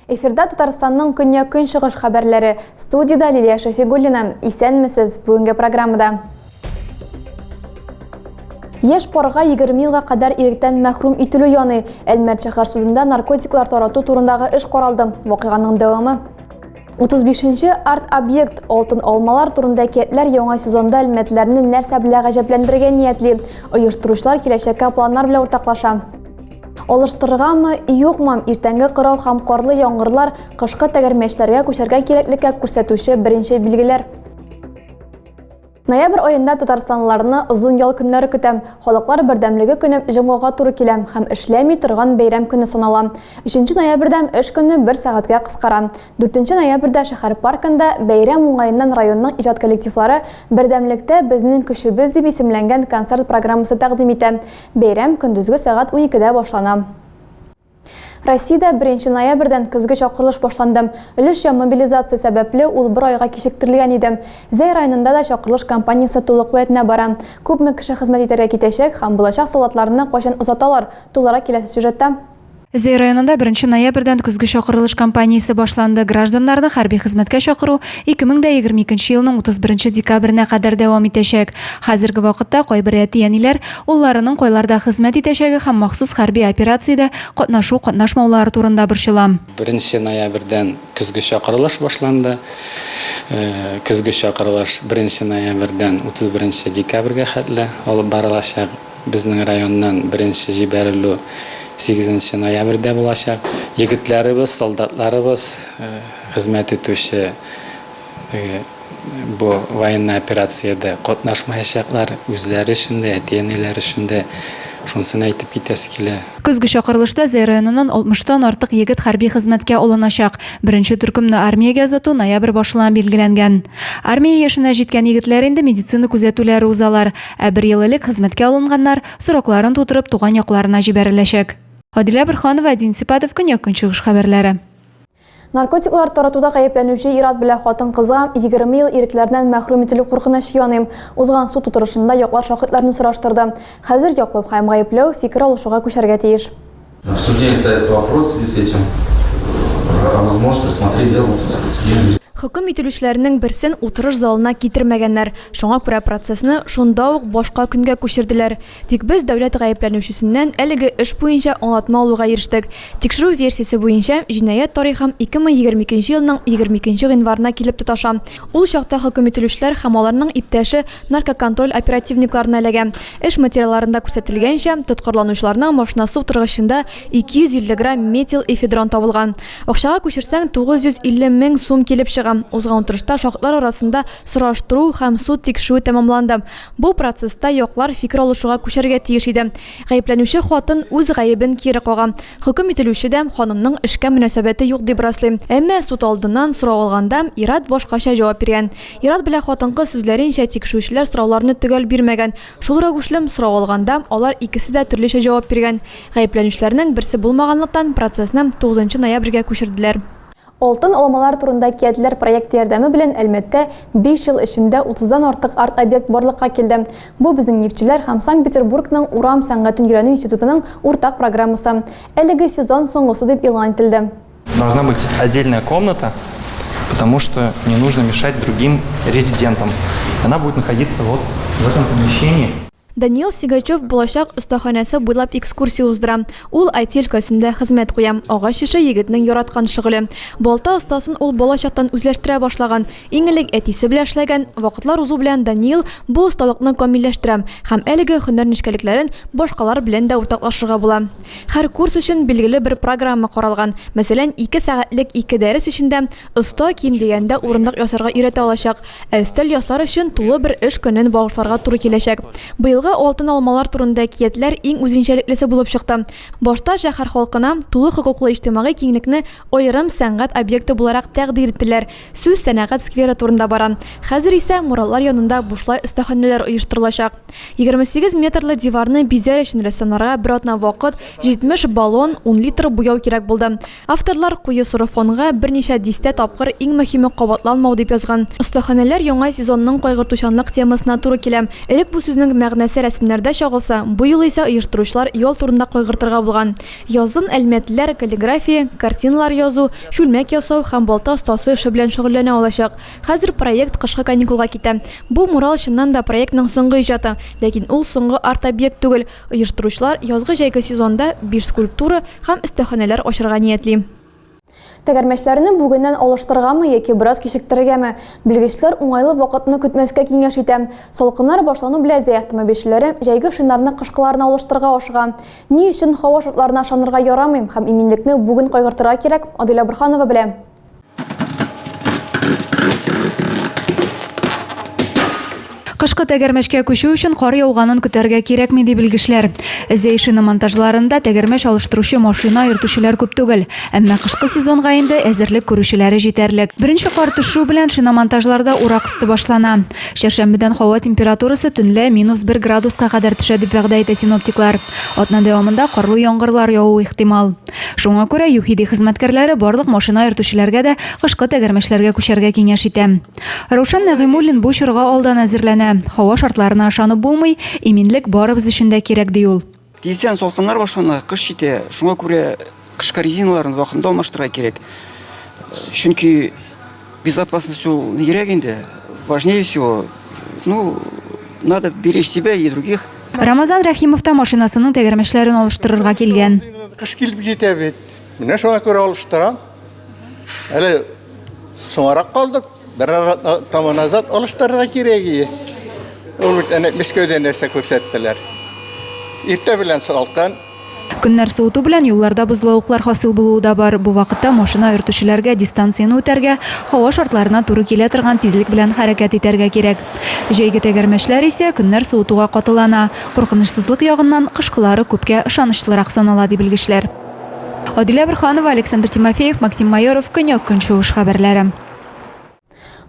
Эфирда Татарстанның көньяк көнчыгыш хәбәрләре. Студида Лилия Шафигуллина. Исәнмесез. Бүгенге программада Еш парга 20 елга кадәр иректән мәхрүм ителү яны. Әлмәт шәһәр судында наркотиклар тарату турындагы эш каралды. Вакыйганың дәвамы. 35-нче арт-объект Алтын алмалар турында әкиятләр яңа сезонда әлмәтләрне нәрсә белә гаҗәпләндерергә ниятли? Оештыручылар киләчәккә планнар белән уртаклаша. Алыштырыргамы, юкмы, иртәнге кырау һәм карлы яңгырлар кышкы тәгәрмәчләргә күчәргә кирәклеккә күрсәтүче беренче билгеләр. Ноябрь аенда татарстанлыларны озын ял көннәре көтә. Халыклар бердәмлеге көне җомгага туры килә һәм эшләми торган бәйрәм көне санала. 3 ноябрьдә эш көне бер сәгатькә кыскара. 4 ноябрьдә шәһәр паркында бәйрәм уңаеннан районның иҗат коллективлары Бердәмлектә безнең көчебез дип исемләнгән концерт программасы тәкъдим итә. Бәйрәм көндезге сәгать уникедә башлана. Россиядә беренче ноябрьдән көзге чакырылыш башланды. Өлешчә мобилизация сәбәпле, ул бер айга кичектерелгән иде. Зәй районында да чакырылыш кампаниясе тулы куәтенә бара. Күпме кеше хезмәт итәргә китәчәк һәм булачак солдатларны кайчан озаталар, тулырак киләсе сюжетта. Зәй районында беренче ноябрьдән көзге чакырылыш кампаниясе башланды. Гражданнарны хәрби хезмәткә чакыру 2022 елның 31 декабренә кадәр дәвам итәчәк. Хәзерге вакытта кайбер әти-әниләр, улларының кайларда хезмәт итәчәге һәм махсус хәрби операциядә катнашу-катнашмаулары турында борчыла. Беренче ноябрьдән көзге чакырылыш башланды. Көзге чакырылыш беренче ноябрьдән 31 декабрьгә хәтле алып барылачак. Безнең районнан беренче җибәрелү сигезенче ноябрьдә булачак. Егетләребез, солдатларыбыз, хезмәт итүче бу военный операциядә катнашмаячаклар, үзләре өчен дә, әти-әниләре өчен дә, шунысын әйтеп китәсе килә. Көзге чакырылышта Зәй районыннан 60 тан артык егет хәрби хезмәткә алыначак. Беренче төркемне армиягә озату ноябрь башына билгеләнгән. Армия яшенә җиткән егетләр инде медицина күзәтүләре узалар, ә бер ел элек хезмәткә алынганнар, срокларын тутырып, туган якларына җибәреләчәк. Адилә Борһанова, Дин Сипатов, Көньяк-Көнчыгыш хәбәрләре. Наркотиклар таратуда гаепләнүче ир-ат белән хатын-кызга 20 ел ирекләреннән мәхрүм ителү куркынычы яный. Узган суд утырышында яклар шаһитларны сораштырды. Хәзер яклау һәм гаепләү фикер алышуга күчәргә тиеш. В суждении ставится вопрос в связи с этим, а вы сможете рассмотреть дело на судебном заседании. Хөкем ителүчеләрнең берсен утырыш залына китермәгәннәр, шуңа күрә процессны шунда ук башка көнгә күчерделәр. Тик без дәүләт гаепләнүчесеннән әлеге эш буенча аңлатма алуга ирештек. Тикшерү версиясе буенча, җинаять тарихым 2020 икенче елның 22 нче гыйнварына килеп тоташа. Ул чакта хөкем ителүчеләр һәм аларның иптәше наркоконтроль оперативникларына эләгә. Эш материалларында күрсәтелгәнчә, тоткарланучыларның машинасы утыргычында 250 грамм метилэфедрон табылган. Акчага күчерсәң, 950 мең сум килеп чыга. Узган утырышта шаһитлар арасында сораштыру һәм суд тикшерүе тәмамланды. Бу процесста яклар фикер алышуга күчәргә тиеш иде. Гаепләнүче хатын үз гаебен кире кага. Хөкем ителүче дә ханымның эшкә мөнәсәбәте юк дип раслый. Әмма суд алдыннан сорау алганда, ир-ат башкача җавап биргән. Ир-ат белән хатын-кыз сүзләренчә, тикшерүчеләр сорауларны төгәл бирмәгән. Шул рәвешле, сорау алганда, алар икесе дә төрлечә җавап биргән. Гаепләнүчеләрнең берсе булмаганлыктан, процессны тугызынчы ноябрьгә күчерделәр. Алтын алмалар турында киәтләр проекты ярдәме белән Әлмәттә биш ел эчендә утыздан артык арт-объект барлыкка килде. Бу безнең нефтьчеләр һәм Санкт-Петербургның урам сәнгатен өйрәнү институтының уртак программасы. Әлеге сезон соңгысы дип игълан ителде. Должна быть отдельная комната, потому что не нужно мешать другим резидентам. Она будет находиться вот в этом помещении. Даниил Сигачев булачак остаханәсе буйлап экскурсия уздыра. Ул IT өлкәсендә хезмәт куя. Агач эше, егетнең яраткан шөгыле. Балта остасын ул балачактан үзләштерә башлаган. Иң элек әтисе белән эшләгән. Вакытлар узу белән Даниил бу осталыкны камилләштерә. Һәм әлеге һөнәр нечкәлекләрен башкалар белән дә уртаклашырга була. Һәр курс өчен билгеле бер программа каралган. Мәсәлән, ике сәгатьлек ике дәрес эчендә оста ким дигәндә урындык ясарга өйрәтә алачак. Ә өстәл ясар өчен тулы бер эш көнен багышларга туры киләчәк. Быелгы Алтын алмалар турында әкиятләр иң үзенчәлеклесе булып чыкты. Башта шәһәр халкына тулы хокуклы иҗтимагый киңлекне аерым сәнгать объекты буларак тәкъдир иттеләр. Сүз сәнәгать скверы турында бара. Хәзер исә муралар янында бушлай остаханәләр оештырылачак. 28 метрлы диварны бизәр өчен рәссамнарга бер атна вакыт, 70 баллон, ун литр буяу кирәк булды. Авторлар куе соры фонга берничә дистә тапкыр иң мөһиме кабатланмау дип язган. Остаханәләр яңа сезонның кайгыртучанлык темасына туры килә. Элек бу сүзнең мәгънәсе рәсемнәрдә чагылса, бу юлы исә оештыручылар ял турында кайгыртырга булган. Язын әлмәтлеләр каллиграфия, картиналар язу, чүлмәк ясау һәм балта остасы эше белән шөгыльләнә алачак. Хәзер проект кышкы каникулга китә. Бу мурал чыннан да проектның соңгы иҗаты, ләкин ул соңгы арт-объект түгел. Оештыручылар язгы-җәйге сезонда биш скульптура һәм өстәханәләр ачырга ниятли. Тәгәрмәчләрне бүгеннән алыштыргамы яки бераз кичектерергәме? Белгечләр уңайлы вакытны көтмәскә киңәш итә. Салкыннар башлану белән зәй автомобильчеләре җәйге шиннарны кышкыларына алыштырырга ашыга. Ни өчен һава шартларына ышанырга ярамый һәм иминлекне бүген кайгыртырга кирәк, Адилә Борһанова белә. Кышкы тәгәрмәчкә күчү өчен кар яуганын көтәргә кирәкми, ди белгечләр. Зей шиномонтажларында тәгәрмәч алыштыручы машина йөртүчеләр күп түгел. Әмма кышкы сезонга инде әзерлек күрүчеләре җитәрлек. Беренче кар төшү белән шиномонтажларда урак өсте башлана. Чәршәмбедән һава температурасы төнлә минус бер градуска кадәр төшә, дип вәгъдә итә синоптиклар. Атна дәвамында карлы яңгырлар явуы ихтимал. Шуңа күрә ЮХИДИ хезмәткәрләре барлык машина йөртүчеләргә дә кышкы тәгәрмәчләргә күчәргә киңәш итә. Раушан Нәгыймуллин бу чорга алдан әзерләнә. Һава шартларына ышанып булмый, иминлек барыбыз өчен дә кирәк, ди ул. Тиздән салкыннар башлана, кыш җитә. Шуңа күрә кышкы резиналарны вакытында алмаштырырга кирәк. Чөнки Безопасность ул нигрәк инде, важнее всего, ну, надо беречь себя и других. Рамазан Рәхимов та машинасының тәгәрмәчләрен алыштырырга килгән. Кыш килеп җитә бит. Менә шуңа күрә алыштырам. Әле соңарак калдык. Бер тама назад алыштырырга кирәк иде. Ул бит әнә Мәскәүдә нәрсә күрсәттеләр. Иртә белән салкын, Көннәр суыту белән юлларда бозлавыклар хасил булуы да бар. Бу вакытта машина йөртүчеләргә дистанцияне үтәргә, һава шартларына туры килә торган тизлек белән хәрәкәт итәргә кирәк. Җәйге тәгәрмәчләр исә көннәр суытуга катылана. Куркынычсызлык ягыннан, кышкылары күпкә ышанычлырак санала, ди белгечләр. Адилә Борһанова, Александр Тимофеев, Максим Майоров, Көньяк-Көнчыгыш хәбәрләре.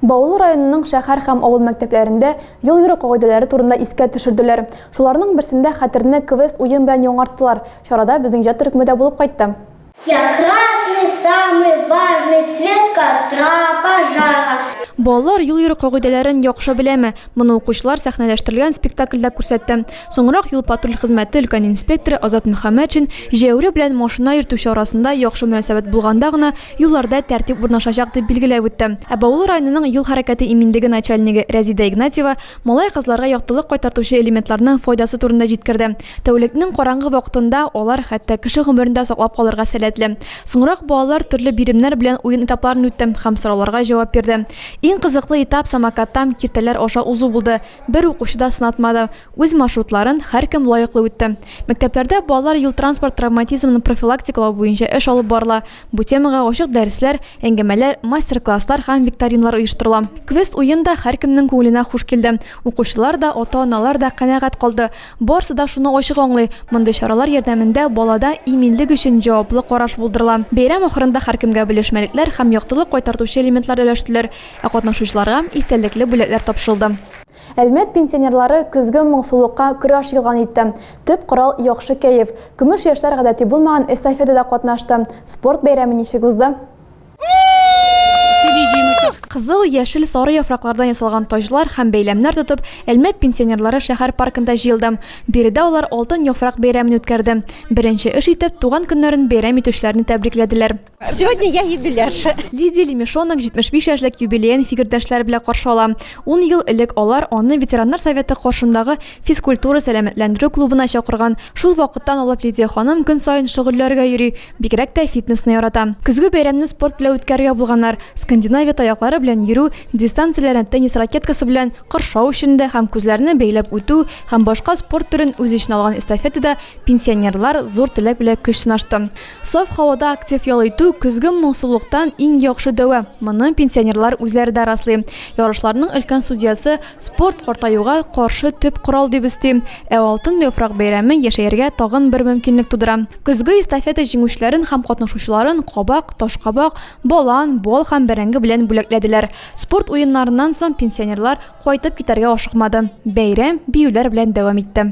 Баулы районының шәһәр һәм авыл мәктәпләрендә юл йөрү кагыйдәләре турында искә төшерделәр. Шуларның берсендә хәтерне квест-уен белән яңарттылар. Чарада безнең иҗат төркеме дә булып кайтты. Я красный, самый важный, цвет костра, пожара. Балалар юл йөрү кагыйдәләрен яхшы беләме? Моны укучылар сәхнәләштерелгән спектакльдә күрсәтте. Соңрак юл-патруль хезмәте өлкән инспекторы Азат Мөхәммәтшин җәяүле белән машина йөртүче арасында яхшы мөнәсәбәт булганда гына юлларда тәртип урнашачак дип билгеләп үтте. Ә Баулы районының юл хәрәкәте иминлеге начальнигы Рәзидә Игнатьева малай-кызларга яктылык кайтартучы элементларның файдасы турында җиткерде. Тәүлекнең караңгы вакытында алар хәтта кеше гомерен дә саклап калырга сәләтле. Соңрак балалар төрле биремнәр белән уен этапларын үтте һәм сорауларга җавап бирде. Иң кызыклы этап самокаттан киртәләр аша узу булды. Бер укучы да сынатмады. Үз маршрутларын һәркем лаеклы үтте. Мәктәпләрдә балалар юл-транспорт травматизмын профилактикалау буенча эш алып барыла. Бу темага ачык дәресләр, әңгәмәләр, мастер-класслар һәм викториналар оештырыла. Квест-уен да һәркемнең күңеленә хуш килде. Укучылар да, ата-аналар да канәгать калды. Барысы да шуны ачык аңлый, мондый чаралар ярдәмендә балада иминлек өчен җаваплы караш булдырыла. Бәйрәм ахырында һәркемгә белешмәлекләр һәм яктылык кайтартучы элементлар өләштеләр, ә катнашучыларга истәлекле бүләкләр тапшырылды. Әлмәт пенсионерлары көзге моңсулыкка көрәш игълан итте. Төп корал, яхшы кәеф. Көмеш яшьләр гадәти булмаган эстафетада катнашты. Спорт бәйрәме ничек узды? Кызыл, яшел, сары яфраклардан ясалган таҗлар һәм бәйләмнәр тотып, Әлмәт пенсионерлары шәһәр паркында җыелды. Биредә алар Алтын яфрак бәйрәмен үткәрде. Беренче эш итеп, туган көннәрен бәйрәм итүчеләрне тәбрикләделәр. Сегодня я юбилярша. Лидия Лемешонок 75 яшьлек юбилеен фикердәшләре белән каршы ала. Ун ел элек алар аны ветераннар советы каршындагы физкультура-сәламәтләндерү клубына чакырган. Шул вакыттан алып Лидия ханым көн саен шөгыльләргә йөри, Бигрәк тә фитнесны ярата. Көзге бәйрәмне спорт белән үткәрергә булганнар. Скандинавия таяклары белән йөрү, дистанцияләрне теннис ракеткасы белән кыршау өчендә һәм күзләрне бәйләп үтү һәм башка спорт төрен үз эченә алган эстафетада пенсионерлар зур теләк белән көч сынашты. Саф һавада актив ял итү, көзге моңсулыктан иң яхшы дәва, моны пенсионерлар үзләре дә раслый. Ярышларның өлкән судьясы Спорт, картаюга каршы төп корал, дип өсти. Ә Алтын яфрак бәйрәме яшәергә тагын бер мөмкинлек тудыра. Көзге эстафета җиңүчеләрен һәм катнашучыларын кабак, ташкабак, балан, бал һәм бәрәңге белән бүләкләделәр. Спорт уеннарыннан соң пенсионерлар кайтып китәргә ашыкмады. Бәйрәм биюләр белән дәвам итте.